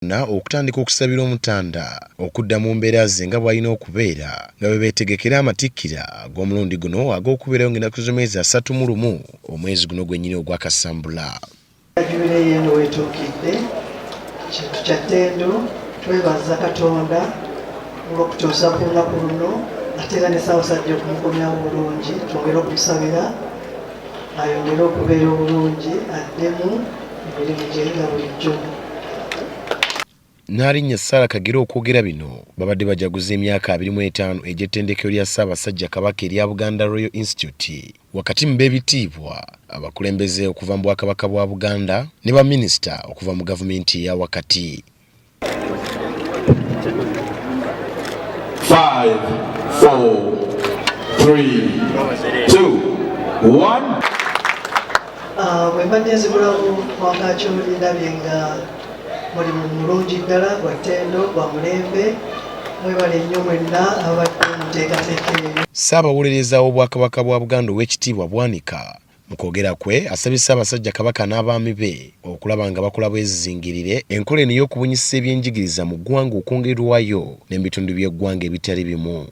bonna okutandika okusabira Omutanda okudda mu mbeera ze nga bw'alina okubeera nga bwe beetegekera amatikkira ag'omulundi guno ag'okubeerayo ng'ennaku z'omwezi asatu mu lumu omwezi guno gwennyini ogwa Kasambula. Jubireeyi eno weetuukidde, kintu kya ttendo twebaza Katonda olw'okutuusa ku lunaku luno ate era ne Ssaabasajja okumukomyawo bulungi twongere okumusabira ayongere okubeera obulungi addemu emirimu gye nga bulijjo Nnaalinnya Sarah Kagere okwogera bino babadde bajaguza emyaka abiri mu etaano egy'ettendekero lya Ssaabasajja Kabaka erya Buganda Royal Institute wakati mu b'ebitiibwa abakulembeze okuva mu Bwakabaka bwa Buganda ne baminisita okuva mu gavumenti eya wakati. Five, four, three, two, one. Ah, bwe mbadde nzibulamu wangaaki olindabye nga mulimu mulungi ddala gwa ttendo gwa mulembe mwebale nnyo mwenna abadde muteekateeka eyo ssaabawolereza w'obwakabaka bwa buganda ow'ekitiibwa bwanika Mu kwogera kwe asabye Ssaabasajja Kabaka n'abaami be okulaba nga bakola bwezizingirire enkola eno ey'okubunyisa ebyenjigiriza mu ggwanga okwongerwayo ne mu bitundu by'eggwanga ebitali bimu.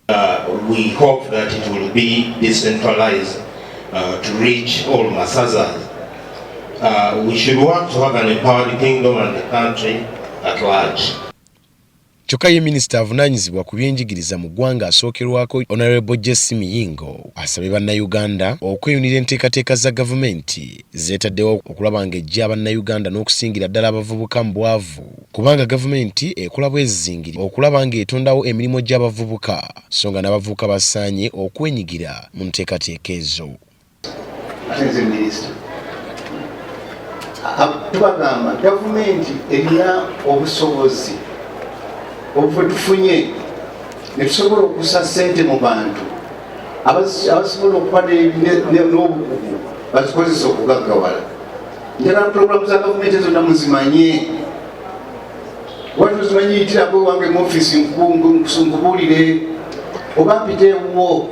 Uh, we hope that it will be decentralized uh, to reach all Masazas. Uh, we should work to have an empowered kingdom and the country at large. Kyokka ye minisita avunaanyizibwa ku byenjigiriza mu ggwanga asookerwako Honorable JC Miyingo asabye bannayuganda okweyunira enteekateeka za gavumenti zeetaddewo okulaba ng'eggya bannayuganda n'okusingira ddala abavubuka mu bwavu kubanga gavumenti ekola bwezizingiri okulaba ng'etondawo emirimu gy'abavubuka so nga n'abavubuka basaanye okwenyigira mu nteekateeka ezo. tubagamba gavumenti erina obusobozi obwe tufunye netusobola okusa sente mu bantu abasobola okuba n'obukugu bazikozesa okugaggawala njagala pulogulamu za gavumenti zonna muzimanye wali ozimanyiyitirako ewange mu ofisi nkubuulire oba mpite ewuwo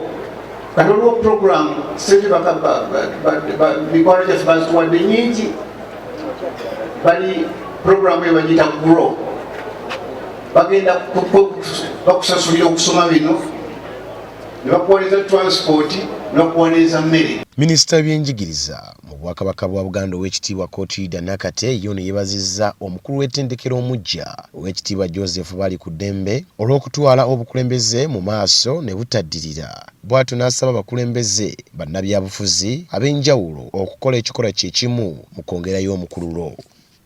kati olwo program sente mikwano gyaffe bazituwadde nyingi bali program ebagiyita grow bagenda bakusasulira okusoma bino nebakuwaniza transport nebakuwaniza mmere minisita byenjigiriza Mu Bwakabaka bwa Buganda Oweekitiibwa Cotilda Nakate ye ono yebazizza omukulu w'ettendekero omuggya Oweekitiibwa Joseph Balikuddembe olw'okutwala obukulembeze mu maaso ne butaddirira bwatyo n'asaba abakulembeze bannabyabufuzi ab'enjawulo okukola ekikolwa kye kimu mu kwongerayo omukululo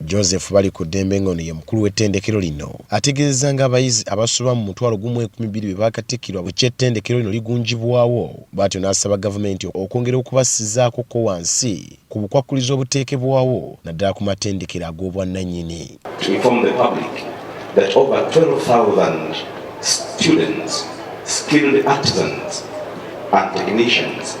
Joseph Balikuddembe nga ono ye mukulu w'ettendekero lino ategeezezza nga abayizi abasoba mu mutwalo gumu enkumi bbiri bwe baakatikkirwa bukya ettendekero lino ligunjibwawo bwatyo n'asaba gavumenti okwongera okubassizaako ko wansi ku bukwakkulizo obuteekebwawo naddala ku matendekero ag'obwannanyini. To inform the public that over 12,000 students, skilled artisans and technicians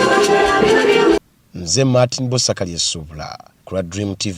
nze martin bosakali esuubula ku lwa dream tv